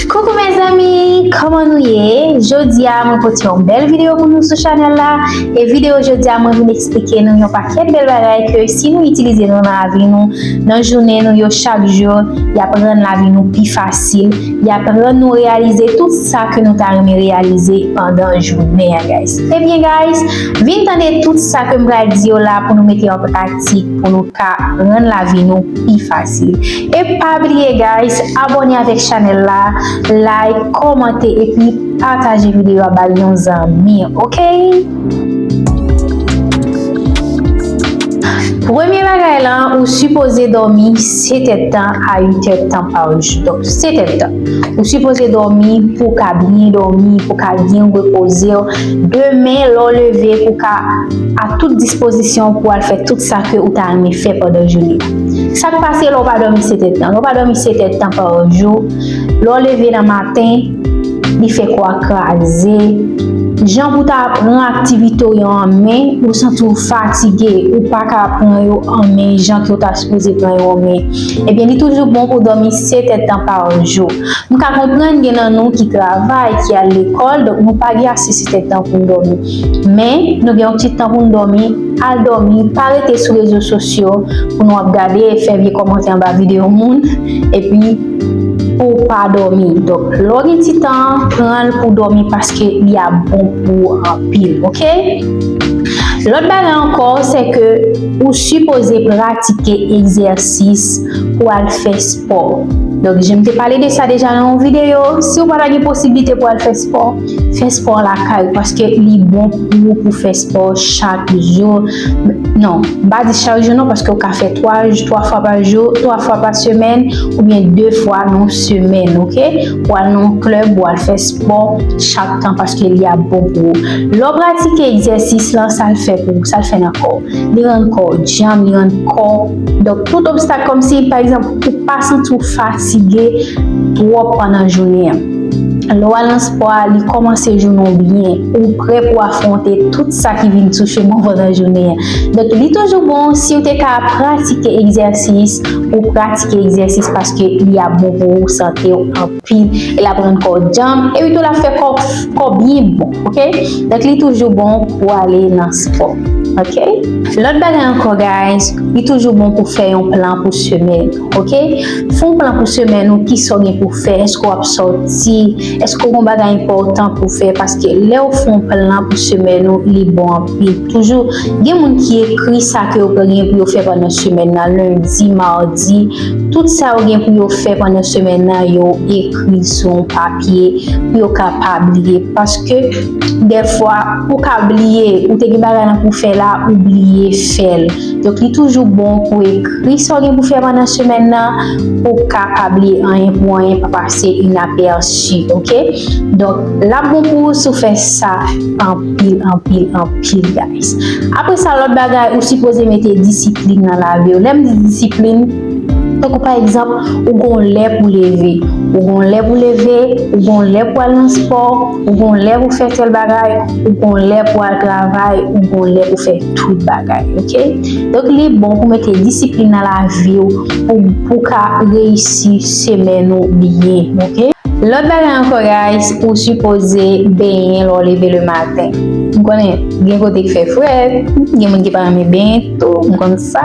Coucou mes amis, kòman nou ye? Jodi a mwen pote yon bèl video pou nou sou chanèl la E video jodi a mwen vin eksplike nou yon pakèt bèl bagay ke si nou itilize nou nan lavi nou Nan jounen nou yo chak jou, yap rann lavi nou pi fasil Yap rann nou reyalize tout sa ke nou ta renmen reyalize pandan jounen an guys Ebyen guys, vin tande tout sa ke m pral di yo la pou nou mete an pratik pou nou ka rann lavi nou pi fasil E pa bliye guys abone avek chanel la like komante epi pataje video a bay yon zanmi ok. Premye bagay lan ou sipoze domi 7 et tan a 8 et tan par jou donk 7 et tan ou sipoze domi pou ka byen domi pou ka byen repozew demen lè w leve pou ka a tout dispozisyon pou al fè tout sa ke ou ta renmen fè pandan jounen. Sak pase lè w pa dòmi 7 èdtan? Lè w pa dòmi 7 èdtan pa jou, lè w leve nan maten, li fè kò a kraze, jan pou ta pran aktivite w yo an men, ou santi w fatige, ou pa ka pran yo an men jan ke w ta sipoze pran yo an men, ebyen li toujou bon pou w dòmi 7 èdtan pa jou. M ka konprann gen nan nou ki travay, ki al lekòl, donk nou pa gen ase 7 èdtan pou n dòmi. Men, nou gen yon ti tan pou n dòmi. Al dòmi, pa rete sou rezo sosyo pou nou ap gade e fè vye kòmantè anba videyo moun epi pouw pa dòmi. Donk lè w gen ti tan an, pran l pou w dòmi paske li ap bon pou ou anpil ok. Lòt bagay ankò se ke ou sipoze pratike egzèsis pou al fè spò. Donk je m te pale de sa deja nan yon videyo, si w pa ta gen posiblite pou al fè spò, Fè spò lakay paske li bon pou ou pou fè spò chak jou. Non, m pa di chak jou non paske ou ka fè 3 3 fwa pa jou, 3 fwa pa semèn oubyen 2 fwa nan yon semèn ok. Ou al nan yon klèb ou al fè spò chak tan paske li ap bon pou ou. Lè w pratike egzèsis lan sa l fè pou ou, sa l fè nan kò w? Li rann kò w djanm, li rann kò w donk tout obstak kòmsi pa egzanp ou pa santi w fatige twòp pandan jounen an. Lè w al nan spò a, li kòmanse jounen w byen, ou prè pou afwonte tout sa ki vin touche mou pandan jounen an. Donk li toujou bon si w te ka pratike egzèsis, ou pratike egzèsis paske li ap bon pou sante w anpil, e l ap rann kò w djanm, epi tou l ap fè kò w byen bon ok. Donk li toujou bon pou w ale nan spò ok. Lòt bagay ankò guys, li toujou bon pou w fè yon plan pou semèn. Ok fè yon plan pou semèn ou kisa w gen pou fè èske w ap sòti èske w gen yon bagay enpòtan pou fè paske lè w fè yon plan pou semèn ou li bon anpil toujou gen moun ki ekri sa ke yo gen pou yo fè pandan semèn nan lendi mardi tout sa yo gen pou yo fè pandan semèn nan yo ekri sou yon papye pou yo ka pa bliye paske dèfwa ou ka bliye ou te gen bagay nan pou fè la ou bliye fè l. Donk li toujou bon pou ekri sa w gen pou fè pandan semèn nan pou w ka pa bliye anyen pou anyen, pa pase inapèsi ok. Donk l ap bon pou ou si w fè sa anpil anpil anpil guys. Apre sa lòt bagay ou sipoze mete disiplin nan lavi w. Lè m di disiplin, tankou pa egzanp ou gen yon lè pou w leve, ou gen yon lè pou w leve, ou gen yon lè pou w al nan spò, ou gen yon lè pou w fè tèl bagay, ou gen yon lè pou w al travay, ou gen yon lè pou w fè. tout bagay ok donk li bon pou mete disiplin nan laviw pou pou ka reyisi semèn ou byen ok. Lòt bagay ankò guys ou sipoze benyen lè w leve le maten m konnen gen kote k fè frèt gen moun ki pa renmen benyen tou m konn sa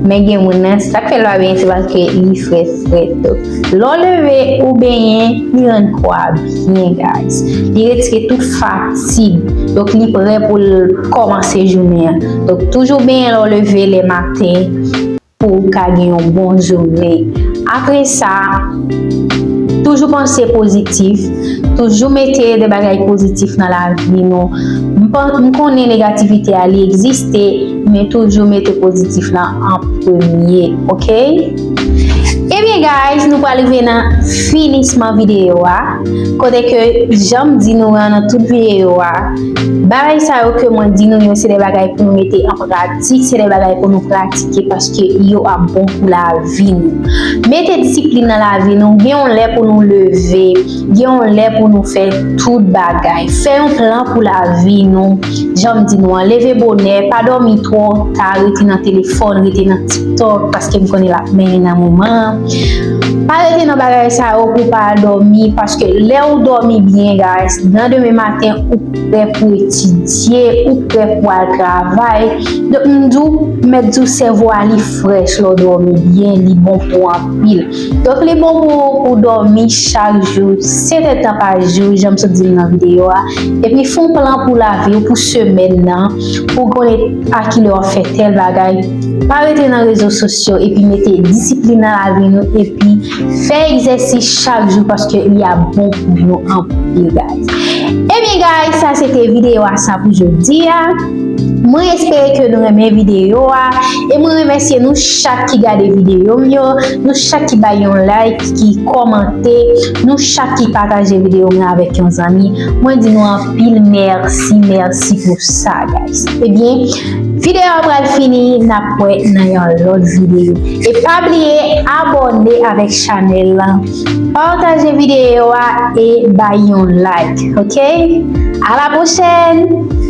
men gen moun nan sak fè l pa benyen se paske li frèt frèt donk lè w leve ou benyen li rann kò a byen. Byen guys. Li retire tout fatig. Donk li prè pou l kòmanse jounen an. Donk toujou benyen lè w leve le maten pou w ka gen yon bon jounen. Apre sa, toujou panse pozitif. Toujou mete de bagay pozitif nan lavi nou. M konnen negativite a li egziste men toujou mete pozitif lan an premye. Ok? Ebyen guys nou pral rive nan finisman videyo a kote ke janm di nou an nan tout videyo a bagay sa yo ke mwen di nou yo se de bagay pou nou mete an pratik se de bagay pou nou pratike paske yo ap bon pou lavi nou mete disiplin nan lavi nou gen yon lè pou nou leve Gen yon lè pou nou fè tout bagay. Fè yon plan pou lavi nou. Jan m di nou an, leve bonè, pa dòmi twò ta, rete nan telefòn, rete nan tiktok paske m konnen l ap mennen nan moman an. Pa rete nan bagay sa yo pou w pa al dòmi paske lè ou dòmi byen guys, nan demen maten ou prè pou etidye, ou prè pou al travay. Donk m di w, mèt di w sèvo a li frèch lè w dòmi byen, li bon pou anpil. Donk li bon pou ou dòmi chak jou 7 èd tan pa jou janm sot di l nan videyo a epi fè yon plan pou lavi w pou semèn nan pou w konnen a ki lè w ap fè tèl bagay pa rete nan rezo sosyo epi mete disiplin nan lavi nou epi fè egzèsis chak jou paske li ap bon pou nou anpil guys ebyen guys sa se te videyo a sa pou jodi a. Mwen espere ke nou renmen videyo a e mwen remèsye nou chak ki gade videyo m yo, nou chak ki bay yon like, ki kòmante, nou chak ki pataje videyo mwen avèk yon zanmi, mwen di nou anpil mèsi, mèsi pou sa guys. Ebyen, videyo a pral fini, n ap wè nan yon lòt videyo. E pa bliye abòne avèk chanèl lan, pataje videyo a e bay yon like ok. A la pwochèn!